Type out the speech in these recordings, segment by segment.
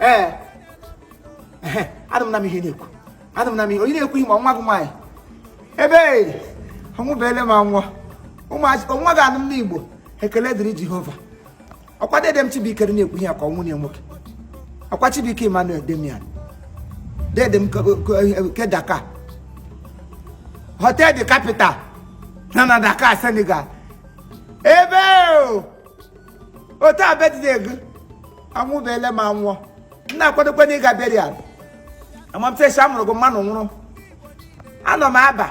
ee anụ m na m ihe na-ekwu anụ m na m ihe onye na-ekwu ihe ma nwa gị nwaanyị ebe ọnwụbeele m anwụọ nwa gị anụ m n'igbo ekele dịrị jehova ọkwa dede m chibuike na-ekwu ihe ya ka ọ nwunye nwoke ọkwa chibuike emmanuel damian dede m ke dakar hotel de capital na na dakar senegal ebe ọ taa birthday gị anwụbeele m anwụọ m na-akwadokwanụ ịga burial amamtesi a mụrụ gị mmanụ nwụrụ anọ m aba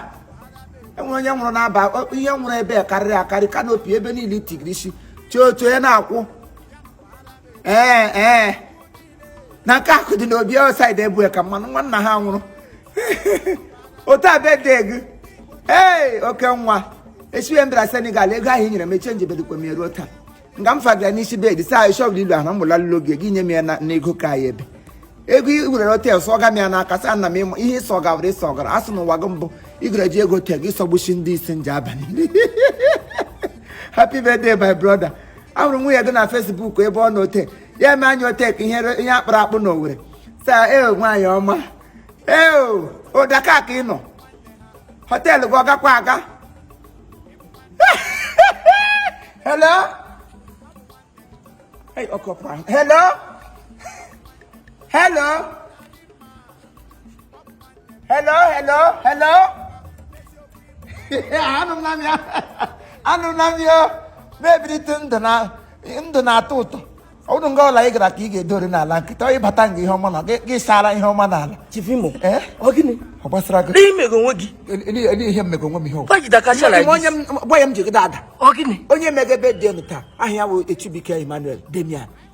enwere onye nwụrụ n'aba o- ihe nwụrụ ebe a karịrị akarị kanopi ebe niile itigiri isi chọọchị onye na-akwụ ee ee na nke akụ dị n'obi outside ebue ka mmanụ nwanna ha nwụrụ ọ taa birthday gị ee oke nwa esiwe m bịara senegal ego ahụ i nyere m echenjibedikwa m ya ruo taa nga m fagara n'isi bed saa ishọbụl ilu ahụ mụla lụlo gị gị nye m ya n'ego ka ya ebe ego i were hotel sọga m ya n'aka saa na m ịma ihe ị sọgawara ị sọgara a sị n'ụwa gị mbụ ị gara eji ego hotel gị sọgbuchi ndị isi nje abalị happy birthday my brother ahụrụ m nwunye gị na facebook ebe ọ na hotel ya eme anya hotel ke ihe a kpụrụ akpụ na owere saa e nwaanyị ọma ee ọ dakar ka ị nọ hotel gị ọ gakwa aga hello hey ọkụ ọpụrụ ahụ hello hello hello hello hello anụla m ya anụla m ya na-ebilite ndụ na-atọ ụtọ ọ bụrụ nga ọla ị gara ka ị ga-edori n'ala nkịta ọ ị bata nga ihe ọma na gị gị saara ihe ọma n'ala chifimo Eh? ọ gịnị ọ gbasara gị ihe i mego onwe gị Ele- ele ihe m mego onwe m ihe Why did I catch you like Onye- onye m- gwa ya m ji gị dada ọ gịnị onye mege birthday taa aha ya bụ Chibuike Emmanuel Damian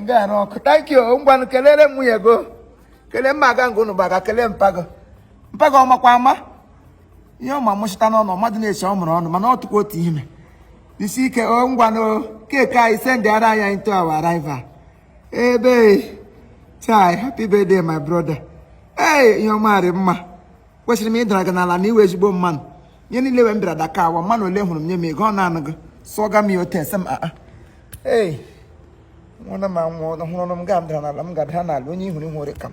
ngwanụ ok thank you ngwanụ kelere m nwunye gị o kelee mma aga ngụ unu gbaga kelee mpa gị o mpa gị ọ makwa mma ihe ọma mụchịtanụ unu mmadụ na-eche ọ mụrụ unu mana ọ tụkwa otu ime isi ike o ngwanụ cake anyị sendịara anyị anyị to our arrival ebe chai happy birthday my brother ee ihe ọma rị mma kwesịrị m ịdara gị n'ala na ị wụ ezigbo mmanụ ihe niile wee m bịara dakar wa mmanụ ole hụrụ m nye m ego ọ naanị gị sụọga m ya otu ese m aa ee nwụrụ m anwụ ọhụrụ m ga-adara n'ala m ga-adara n'ala onye ihuru ihu ore ka m